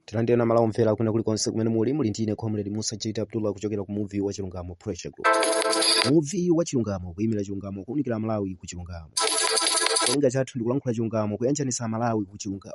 tilandireni amalawi omvera akuno kulikonse kumene muli muli ndine comrade musa jt abdullah kuchokera ku muvi wa chilungamo pressure group muvi wa chilungamo kuyimira chilungamo kuunikira malawi ku chilungamo cholinga chathu ndi kulankhula chilungamo kuyanjanisa malawi ku chilungamo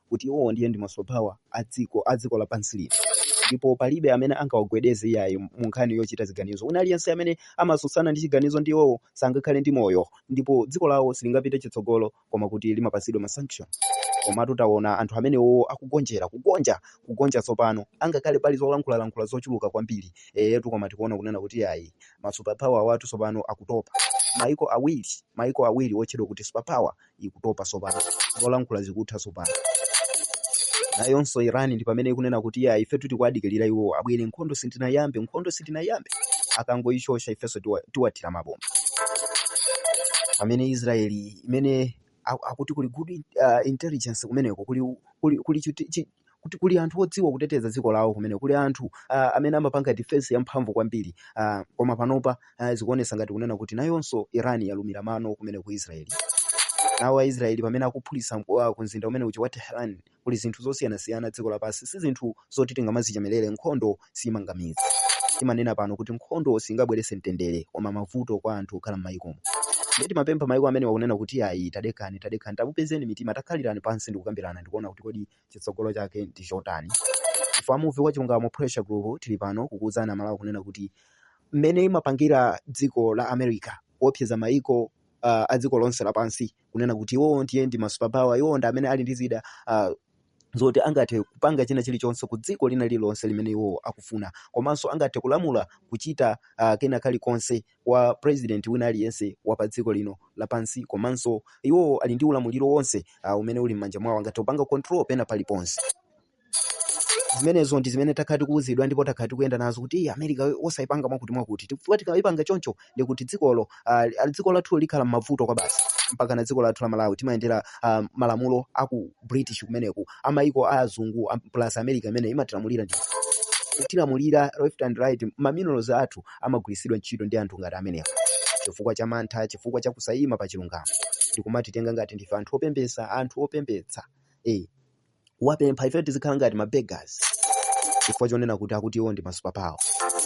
kuti iwowo ndiye ndi masuperpower a dziko a dziko lapansi lino ndipo palibe amene angawagwedeze iyayi mu nkhani yochita ziganizo wina aliyense amene amatsutsana ndi chiganizo ndi iwowo sangakhale ndi moyo ndipo dziko lawo silingapite chitsogolo koma kuti limapatsidwa masanction komatu taona anthu amenewo akugonjera kugonja kugonja tsopano angakhale pali zolankhulalankhula zochuluka kwambiri eyetu koma tikuona kunena kuti iyayi masuperpower awatu tsopano akutopa maiko awiri maiko awiri otchedwa kuti superpower ikutopa tsopano zolankhula zikutha tsopano nayonso iran ndi pamene ikunena kuti ya ife tikudikirira iwo abwere nkhondo sitinayambe nkhondo sitinayambe akangoishosha ifenso tiwa- tiwathira mabomba pamene israeli imene aku- akuti kuli good uh, intelligence kumeneko kuli, kuli, kuli chiti- chi- kuti kuli anthu odziwa kuteteza dziko lawo kumene kuli anthu uh, amene amapanga defense yamphamvu kwambiri uh, koma panopa uh, zikuonesa ngati kunena kuti nayonso iran yalumira mano kumene ku israeli nawo aisraeli pamene akuphulitsa mk- ah, ku mzinda umene uja wa tehran kuli zinthu zosiyanasiyana dziko lapansi si zinthu zoti tingamazichemerere nkhondo siimanga mudzi. Timanena pano kuti nkhondo singabweretse mtendere koma mavuto kwa anthu okhala m'mayikomo. Ndiye timapempha mayiko amenewa kunena kuti ayi, tadekhani, tadekhani, tafupizani mitima, takhalirani pansi ndi kukambirana ndi kuona kuti kodi chitsogolo chake ndi chotani. Ife a Muvi wa Chilungamo Pressure Group tili pano kukuwuzani Amalawi kunena kuti mmene imapangira dziko la America kuopseza mayiko uh, a dziko lonse lapansi kunena kuti iwowo ndiye ndi masuperpower iwowo ndi amene ali ndi zida uh, zoti angathe kupanga china chilichonse ku dziko lina lililonse limene iwowo akufuna komanso angathe kulamula kuchita uh, kena kalikonse kwa president wina aliyense wa pa dziko lino lapansi komanso iwowo ali ndi ulamuliro wonse uh, umene uli m'manja mwawo angathe kupanga control pena paliponse zimenezo ndi zimene takhala tikuwuzidwa ndipo takhala tikuyenda nazo kuti "Iyi america osayipanga mwakuti mwakuti chifukwa tikayipanga choncho ndi kuti dzikolo ah, li- dziko lathu likhala m'mavuto kwabasi mpakana dziko lathu la malawi timayendera ah, malamulo a ku british kumeneku amayiko a azungu am- plus america imene imatilamulira ndi kutilamulira left and right maminerals athu amagwiritsidwa ntchito ndi anthu ngati amenewa chifukwa cha mantha chifukwa cha kusayima pa chilungamo ndikumatitenga ngati ndife anthu opemphetsa anthu opemphetsa eh wapempha ife tizikhala ngati ma beggars chifukwa chonena kuti akuti iwo ndi ma superpower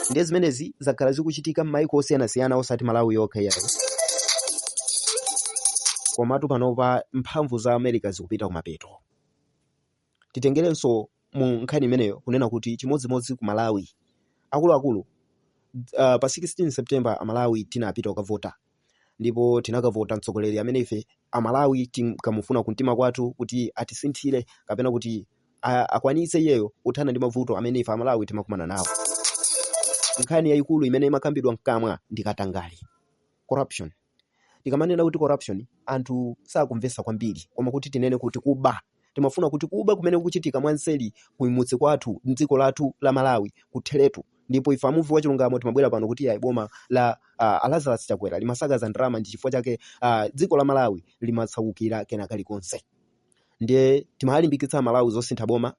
ndiye zimenezi zakhala zikuchitika m'mayiko osiyanasiyana osati malawi yokha iyayo komatu panopa mphamvu za america zikupita kumapeto titengerenso mu nkhani imeneyo kunena kuti chimodzimodzi ku malawi akuluakulu uh, pa 16 september amalawi tinapita kukavota ndipo tinakavota mtsogoleri amene ife amalawi tinkamufuna kumtima kwathu kuti atisinthire kapena kuti a- akwanitse iyeyo kuthana ndi mavuto amene ife amalawi timakumana nawo nkhani yayikulu imene imakambidwa mkamwa ndi katangale corruption tikamanena kuti corruption anthu sakumvesa kwambiri koma kuti tinene kuti kuba timafuna kuti kuba kumene kukuchitika mwanseli kumudzi kwathu mdziko lathu la malawi kutheretu ndipo ife amuvi wa chilungamo timabwera pano kuti ayi boma la uh, alazarus chakwera limasakaza ndalama ndi chifukwa chake uh, dziko la malawi limatsaukira kena kalikonse ndiye timawalimbikitsa amalawi zosintha boma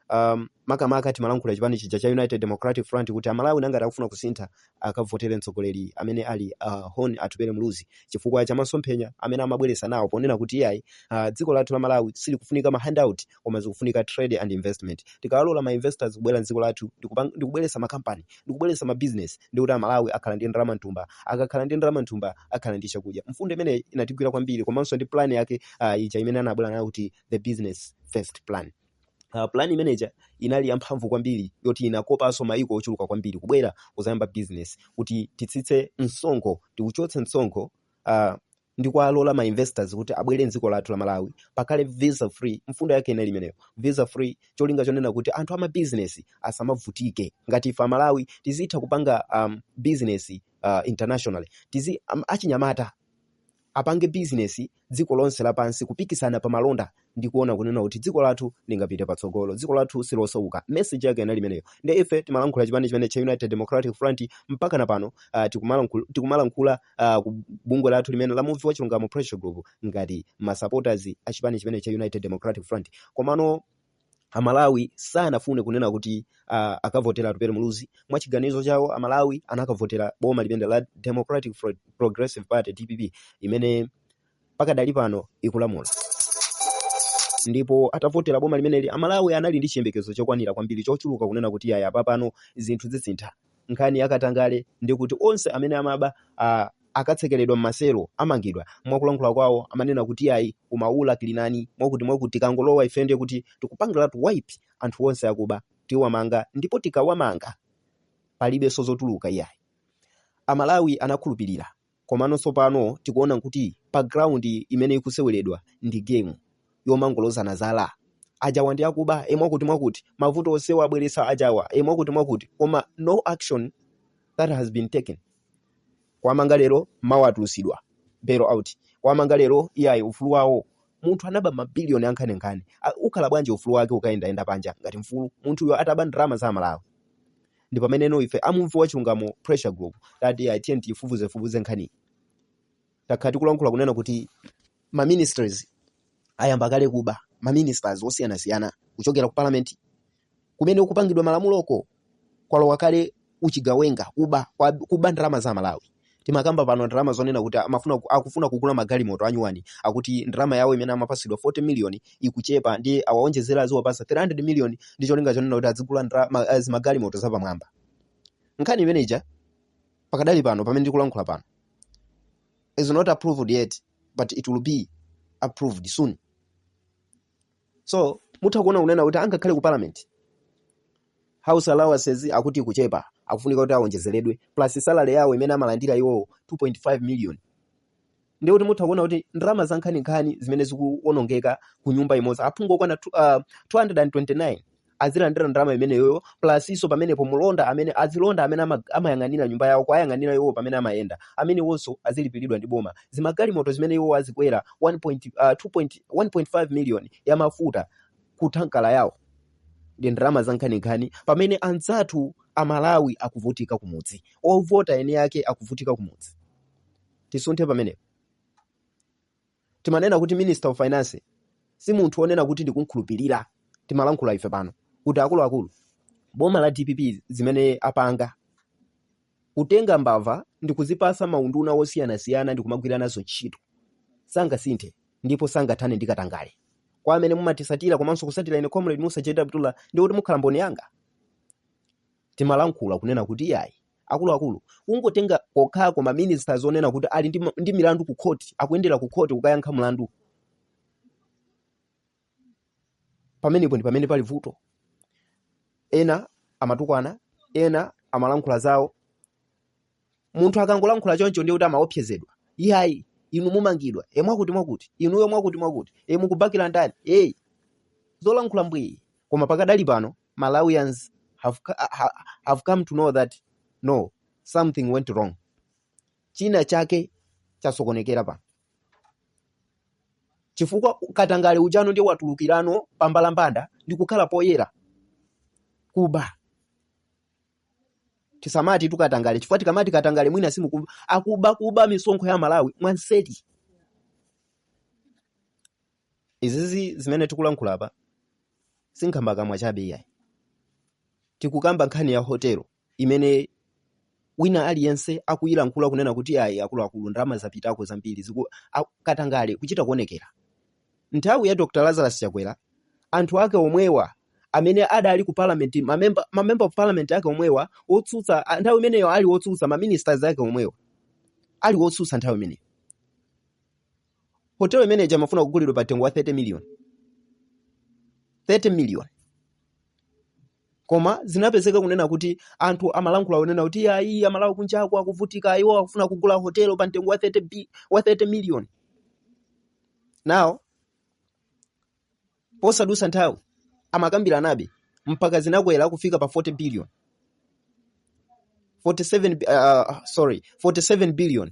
um, makamaka timalankhula chipani chija cha united democratic front kuti amalawi nangati akufuna kusintha akavotere mtsogoleri amene ali uh, hon atupele muluzi chifukwa cha masomphenya amene amabweresa nawo ponena kuti iyayi uh, dziko lathu la malawi silikufunika ma handout koma zikufunika trade and investment tikawalola ma investors kubwera mdziko lathu ndikupang- ndikubweresa makampani ndikubweresa ma business ndiye kuti amalawi akhala ndi ndalama mthumba akakhala ndi ndalama mthumba akhala ndi chakudya mfundo imeneyi inatigwira kwambiri komanso ndi plan yake uh, ija imene anabwera nayo kuti the business first plan Uh, plan imene ija inali yamphamvu kwambiri yoti inakopanso mayiko ochuluka kwambiri kubwera kuzayamba business kuti titsitse msonkho tiuchotse msonkho uh, ndi kuwalola ma investors kuti abwere mdziko lathu la malawi pakhale visa free mfundo yake inali imeneyo visa free cholinga chonena kuti anthu ama business asamavutike ngati ife amalawi tizitha kupanga um, business uh, internationally tizi um, achinyamata apange business dziko lonse lapansi kupikisana pa malonda ndi kuona kunena kuti dziko lathu lingapite patsogolo dziko lathu silosauka message yake inali imeneyo ndi ife timalankhula chipani chimenechi cha united democratic front mpaka na pano uh, tikumalankhula, tikumalankhula uh, ku bungwe lathu limeneli la muvi wa chilungamo pressure group ngati ma supporters a chipani chimenechi cha united democratic front komano amalawi sanafune kunena kuti uh, akavotere atupele muluzi mwachiganizo chawo amalawi anakavotera boma limeneli la democratic Pro- progressive party dpp imene pakadali pano ikulamula ndipo atavotera boma limeneli amalawi anali ndi chiyembekezo chokwanira kwambiri chochuluka kunena kuti aya apapano zinthu zisintha Nkhani ya katangale ndiye kuti onse amene amaba a, akatsekeredwa m'maselo amangidwa. Mwakulankhula kwawo amanena kuti iyayi umaula kuli ndani mwakuti mwakuti tikangolowa ife ndiye kuti tikupangiratu wipe anthu onse akuba tiwamanga ndipo tikawamanga palibenso zotuluka iyayi. Amalawi anakhulupirira Komano tsopano tikuona kuti pa ground imene ikuseweredwa ndi game yomangolozana zala. Ajawa ndi akuba, e mwakuti mwakuti, mavuto onsewa abweretsa ajawa, e mwakuti mwakuti, koma no action that has been taken. Kuwamanga lero, mawa atulusidwa, bail out. Kuwamanga lero, iyayi, ufulu wawo. Munthu anaba ma billion ankhaninkhani, a- ukhala bwanji ufulu wake ukayendayenda panja ngati mfulu? Munthuyo ataba ndalama za Amalawi. ndipo pameneno ife a Muvi wa Chilungamo pressure group tati ya tnt ifufuze fufuze nkhaniyi takhala tikulankhula kunena kuti ma ministers ayamba kale kuba ma ministers osiyana siyana kuchokera ku parliament kumene kupangidwa malamuloko kwalowa kale uchigawenga kuba kwa- kuba ndalama za amalawi timakamba pano ndalama zonena kuti amafuna ku- akufuna kugula magalimoto anyuwani akuti ndalama yawo imene amapatsidwa 40 million ikuchepa ndi awaonjezere aziwapasa 300 million ndi cholinga chonena kuti azigula ndra- ma- eh, zimagalimoto zapamwamba nkhani imene ija pakadali pano pamene ndikulankhula pano is not approved yet but it will be approved soon so mutha kuona kunena kuti angakhale ku parliament house allowances akuti akuchepa akufunika kuti awonjezeredwe plus salary yawo imene amalandira iwowo 2.5 million ndiye kuti mutha kuona kuti ndalama zankhaninkhani zimene zikuonongeka ku nyumba imodzi aphungu okwana tu- ah, 229 azilandira ndalama imeneyoyo plus-nso pamenepo mulonda amene azilonda amene ama- amayang'anira nyumba yawo kuwayang'anira iwo pamene amayenda amenewonso azilipiridwa ndi boma zimagalimoto zimene iwo azikwera 1 point, uh, 2 point, 1.5 million ya mafuta ku thanki la yawo ndi ndalama zankhaninkhani pamene anzathu amalawi akuvutika kumudzi ovota eni ake akuvutika kumudzi tisunthe pamenepo timanena kuti minister of finance si munthu onena kuti ndikumkhulupirira timalankhula ife pano kuti akuluakulu boma la dpp zimene apanga kutenga mbava ndi kuzipasa maunduna osiyanasiyana ndi kumagwira nazo ntchito sangasinthe ndipo sangathane ndi katangale kwa amene mumatisatira komanso kunsatira ine comrade musa jw abdullah ndiye kuti mukhala mboni yanga timalankhula kunena kuti iyayi akuluakulu kungotenga kokhako ma ministers onena kuti ali ndi, ma- ndi milandu ku khoti akuyendera ku khoti kukayankha mlandu pamenepo ndi pamene pali vuto ena amatukwana ena amalankhula zawo munthu akangolankhula choncho ndiye kuti amaopsezedwa iyayi inu mumangidwa e mwakuti mwakuti inuyo mwakuti mwakuti e mukubakira ndani ii zolankhula mbwii koma pakadali pano Malawians have, have come to know that no something went wrong, china chake chasokonekera pa chifukwa katangale ujano ndiye watulukirano pambalambanda ndi kukhala poyera kuba tisamatitu katangale chifukwa tikamati katangale mwina simukumva akuba kuba misonkho ya Amalawi mwanseri Izizi zimene tikulankhula apa si nkhambakamwa chabe iyayi. Tikukamba nkhani ya hotelo imene wina aliyense akuyilankhula kunena kuti ayi akuluakulu ndalama zapitako zambiri ziku a- katangale kuchita kuonekera. Nthawi ya Dr. Lazarus Chakwera anthu ake omwewa amene adali ku parliament mamember ma member of parliament ake omwewa otsutsa a- nthawi imeneyo ali otsutsa ma ministers ake omwewa ali otsutsa nthawi imeneyo hotelo imene ija amafuna kugulidwa pa mtengo wa 30 million 30 million koma zinapezeka kunena kuti anthu amalankhula kunena kuti ayi amalawi kunjako akuvutika iwo akufuna kugula hotelo pa mtengo wa 30, bi- wa 30 million now posadusa nthawi amakambiranabe mpaka zinakwera kufika pa 40 billion 47 bi- uh, sorry 47 billion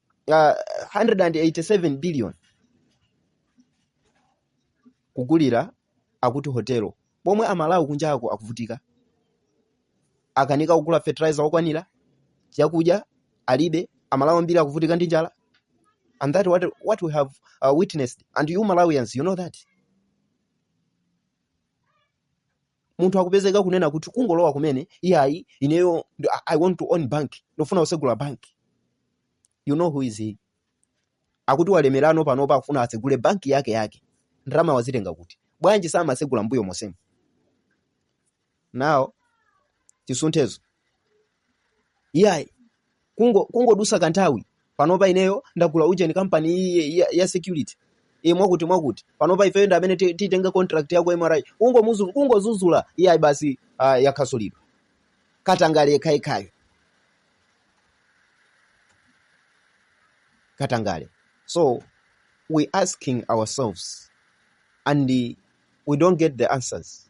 ah, 187 billion kugulira akuti hotelo pomwe amalawi kunjako akuvutika akanika kugula fertilizer okwanira chakudya alibe amalawi ambiri akuvutika ndi njala and that what, what we have uh, witnessed and you malawians you know that munthu akupezeka kunena kuti kungolowa kumene iyayi ineyo ndi- I- i want to own bank ndofuna kusegula bank you know who is he akuti walemerano panopa akufuna atsegule banki yake yake ndalama wazitenga kuti bwanji samasegula mbuyo monsemu now chisunthezo iyayi kungo kungodusa kanthawi panopa ineyo ndagula ujeni kampani iyi ya, ya, ya security e mwakuti mwakuti panopa ifeyo ndi amene ti- titenga contract ya ku MRA kungomuzu- kungozuzula iyayi basi uh, yakhasulidwa katangale yekhayekhayo katangale so we asking ourselves and uh, we don't get the answers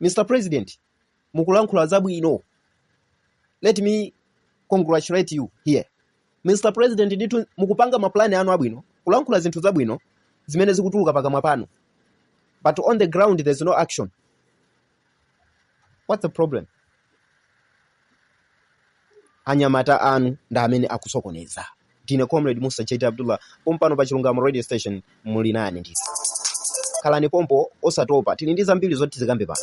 Mr President, mukulankhula zabwino. Let me congratulate you here. Mr President, ndithu mukupanga mapulani anu abwino, kulankhula zinthu zabwino zimene zikutuluka pakamwa panu. But on the ground there's no action. What's the problem? anyamata anu ndi amene akusokoneza ndine comrade musa jd abdullah pompano pa chilungamo radio station muli nane ndi khalani pompo osatopa tili ndi zambiri zoti tizikambe pano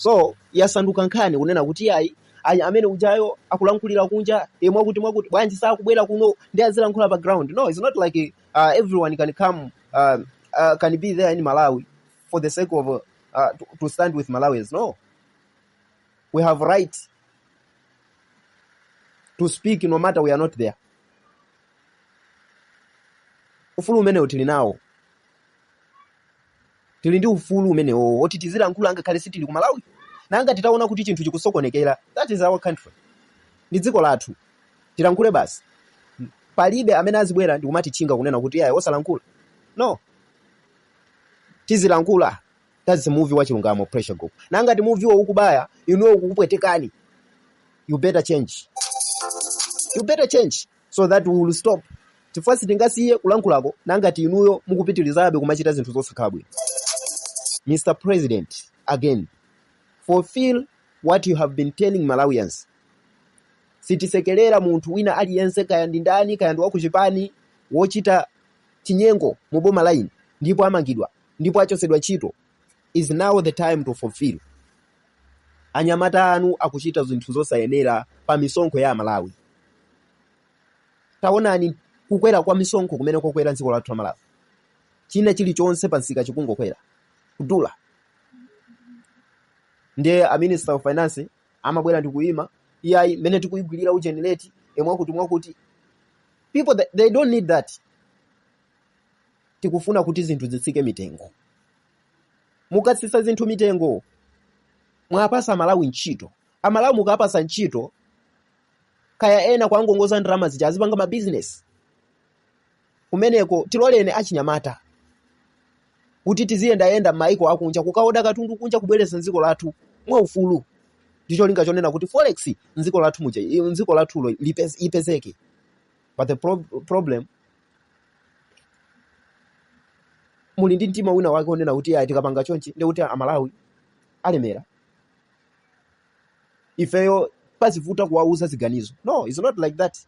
so yasanduka nkhani kunena kuti ayi ayi amene ujayo akulankhulira kunja e mwakuti mwakuti bwanji sakubwera kuno n'kuzilankhula pa ground no it's not like uh, everyone can come uh, uh, can be there in malawi for the sake of uh, uh, to, to stand with Malawians. No, we have right to speak no matter we are not there. Ufulu umenewo tili nawo, tili ndi ufulu umenewo woti tizilankhula ngakhale sitili ku Malawi, nanga titaona kuti chinthu chikusokonekera. That is our country, ndi dziko lathu, tilankhule basi. Palibe amene azibwera ndikumatitchinga kunena kuti ayi osalankhula. No, Tizilankhula thats the muvi wa chilungamo pressure group nanga ngati muviwo ukubaya inuyo ukukupwetekani you better change you better change so that we will stop chifukwa sitingasiye kulankhulako nanga ngati inuyo mukupitilizabe kumachita zinthu zosakhala bwino Mr President again fulfill what you have been telling Malawians sitisekelera munthu wina aliyense kaya ndi ndani kaya ndi wakuchipani wochita chinyengo mu boma lino ndipo amangidwa ndipo achotsedwa ntchito is now the time to fulfill anyamata anu akuchita zinthu zosayenera pa misonkho ya aMalawi taonani kukwera kwa misonkho kumene kwakwera dziko lathu la malawi china chilichonse pa msika chikungokwera kudula ndiye a minister of finance amabwera ndikuyima iyayi mmene tikuyigwirira ujeni leti emwakuti mwakuti people they, they don't need that tikufuna kuti zinthu zitsike mitengo mukatsitsa zinthu mitengo muwapatsa amalawi ntchito amalawi mukawapatsa ntchito kaya ena kuwakongoza ndalama zija azipanga mabizinesi kumeneko tiloleni achinyamata kuti tiziyendayenda m'mayiko akunja kukaoda katundu kunja kubweretsa m'dziko lathu mwaufulu ndi cholinga chonena kuti forex m'dziko lathu muja i- m'dziko lathulo lipez- ipezeke but the pro problem muli ndi mtima wina wake onena kuti ayi tikapanga chonchi ndi kuti amalawi alemera ifeyo pazivuta kuwauza ziganizo no it's not like that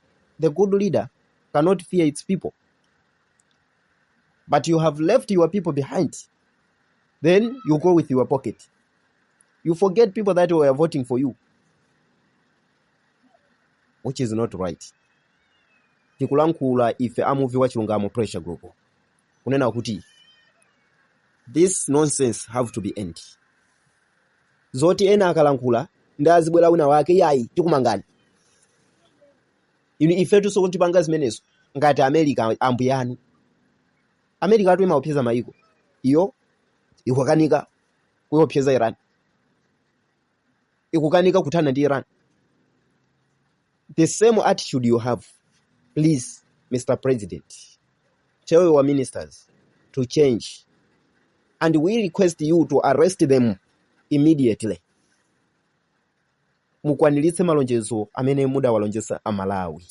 the good leader cannot fear its people but you have left your people behind then you go with your pocket you forget people that were voting for you which is not right tikulankhula ife amuvi wa chilungamo pressure group kunena kuti this nonsense have to be end zoti ena akalankhula ndiye azibwera wina wake yayi tikumangani inu ifetu sukutipanga zimenezo ngati america ambuyanu america atu imaopseza maiko iyo ikukanika kuopseza iran ikukanika kuthana ndi iran the same attitude you have please mr president tell your ministers to change and we request you to arrest them immediately mukwaniritse malonjezo amene mudawalonjeza Amalawi.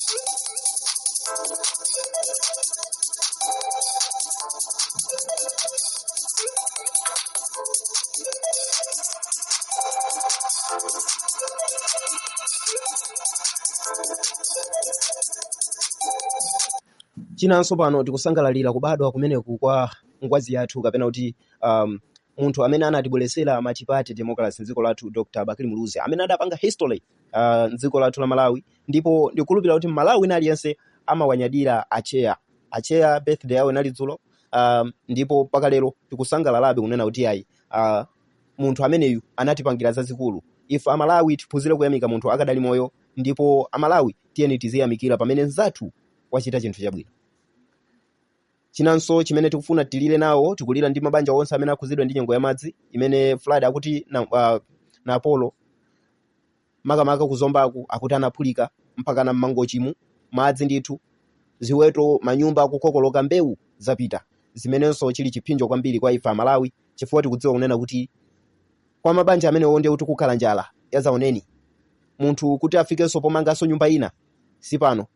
chinanso pano tikusangalalira kubadwa kumeneku kwa ngwazi yathu kapena kuti um, munthu amene anatibweretsera multiparty democracy m'dziko lathu dr bakili muluzi amene adapanga history uh, m'dziko lathu la malawi ndipo ndikukhulupirira kuti mmalawi wina aliyense amawanyadira acheya acheya birthday yawo inali dzulo um, ndipo mpaka lero tikusangalalabe kunena kuti ayi uh, munthu ameneyu anatipangira zazikulu ife amalawi tiphunzire kuyamika munthu akadali moyo ndipo amalawi tiyeni tiziyamikira pamene mzathu wachita chinthu chabwino Chinanso chimene tikufuna tilire nawo, tikulira ndi mabanja onse amene akhudzidwa ndi nyengo ya madzi imene flood akuti na, uh, Napolo makamaka kuzombaku akuti anaphulika mpakana mmangochimu madzi ndithu ziweto manyumba akukokoloka mbewu zapita zimenenso chili chipsinjo kwambiri kwa ife amalawi chifukwa tikudziwa kunena kuti kwa mabanja amenewo ndiye kuti kukhala njala yazaoneni munthu kuti afikenso pomanganso nyumba ina si pano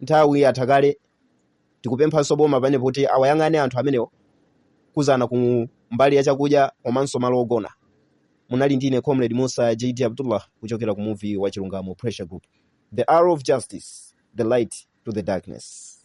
Nthawi yatha kale tikupemphanso boma panepo kuti awayang'ane anthu amenewo kudzana ku mbali ya chakudya komanso malo ogona. Munali ndi ine Comrade Musa JD Abdullah kuchokera ku muvi wa Chilungamo Pressure Group. The arrow of justice, the light to the darkness.